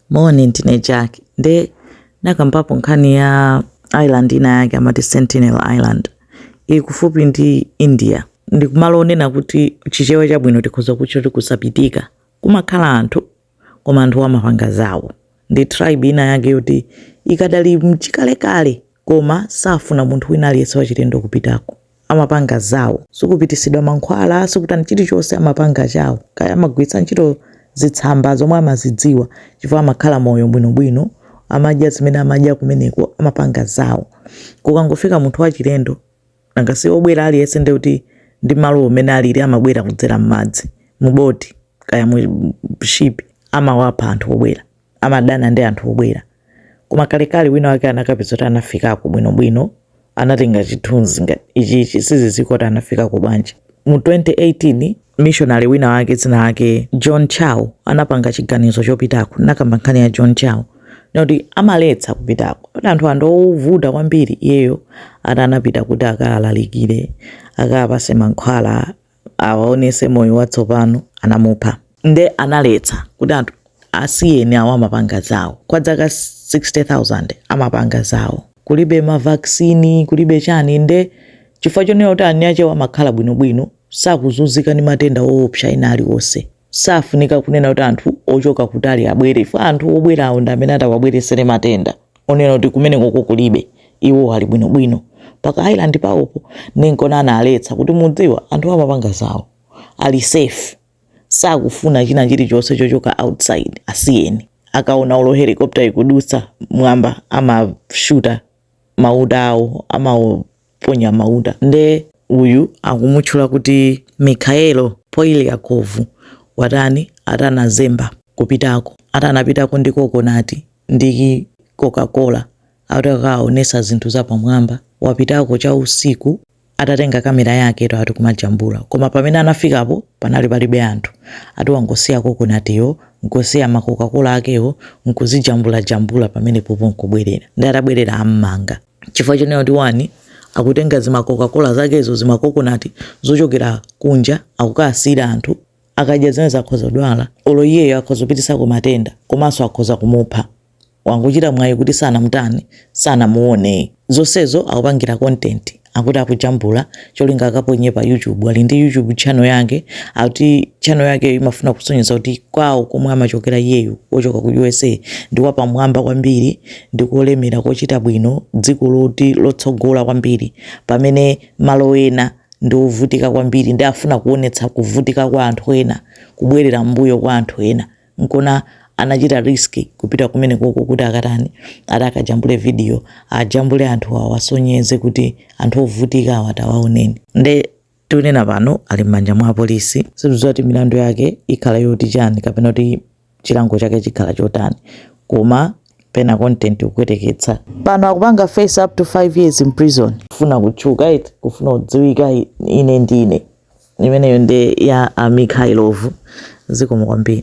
Morning, ndine Jack. Nde nakambapo nkhani ya island ina yake amati Sentinel Island. Ili kufupi ndi India. Ndi kumalo onena kuti chichewa chabwino tikhoza kutcha kuti kusapitika. Kumakhala anthu koma anthu amapanga zawo. Ndi tribe ina yake yoti ikadali mchikalekale koma safuna munthu wina aliyense wachilendo kupitako. amapanga zawo sikupitisidwa mankhwala sikutani chilichonse amapanga chawo kaya amagwiritsa ntchito zitsamba zomwe amazidziwa chifukwa amakhala moyo bwinobwino amadya zimene amadya kumeneko amapanga zawo kukangofika munthu wachilendo nanga si obwera aliyense ndi kuti ndi malo umene alili amabwera kudzera m'madzi muboti kaya mu ship amawapha anthu obwera amadana ndi anthu obwera. Koma kalekale wina wake anakapeza kuti anafikako bwinobwino, anatenga chithunzi ngati ichichi, sizidziwika kuti anafikako bwanji. Mu 2018, missionary wina wake dzina lake John Chau anapanga chiganizo chopitako, nakamba nkhani ya John Chau noti amaletsa kupitako kuti anthu ake ndi ovuta kwambiri. Iyeyo ati anapita kuti akalalikire, akapase mankhwala awaonese moyo watsopano anamupha nde analetsa kuti anthu asiyeni awo amapanga zawo kwa dzaka 60000 amapanga zawo kulibe ma vaccine kulibe chani nde chifukwa chonena kuti eni akewa amakhala bwinobwino sakuzunzika ndi matenda oopsa ena aliwonse safunika kunena kuti anthu ochoka kutali abwere ifo anthu obwerawo ndi amene atawabweresere matenda onena kuti kumenekoko kulibe iwo ali bwinobwino paka island pawopo ndinkona analetsa kuti mudziwa anthuwa amapanga zawo ali safe sakufuna china chilichonse chochoka outside asiyeni akaona olo helicopter ikudutsa mwamba amashuta mauta awo ama ponya mauta nde uyu akumutchula kuti Mykhailo Polyakov watani ati anazemba kupitako ati anapitako ndi kokonati ndi kokakola akuti akawaonetse zinthu zapamwamba wapitako cha usiku atatenga kamera yake ati kumajambula koma pamene anafikapo panali palibe anthu ati wangosiya kokonatiyo nkusiya makokakola akewo nkuzijambulajambula pamenepopo nkubwerera nde atabwerera ammanga chifukwa chonena kuti one akutenga zimakokakola zakezo zimakokonati zochokera kunja akukasiyira anthu akadya zimenezo akhoza kudwala olo iyeyo akhoza kupititsako matenda komanso akhoza kumupha wangochita mwayi kuti sanamutani sanamuone zonsezo akupangira content akuti akujambula cholinga akaponye pa youtube ali ndi youtube channel yake akuti channel yake imafuna kusonyeza kuti kwawo komwe amachokera iyeyo wochoka ku usa ndi wapamwamba kwambiri ndi kolemera kochita bwino dziko loti lotsogola kwambiri pamene malo ena ndi ovutika kwambiri ndi afuna kuonetsa kuvutika kwa anthu ena kubwerera mbuyo kwa anthu ena nkona anachita risk kupita kumene koko kuti akatani akajambule video ajambule anthu awo asonyeze kuti anthu ovutika awa tawaoneni nde Tikunena pano ali m'manja mwa apolisi. Sitikudziwa kuti milandu yake ikhala yoti chani kapena kuti chilango chake chikhala chotani koma pena content kupweteketsa. Pano akupanga face up to 5 years in prison. Kufuna kutchuka eti? Kufuna kudziwika ine ndine? Imeneyo nde ya a Mikhailovu. Zikomo kwambiri.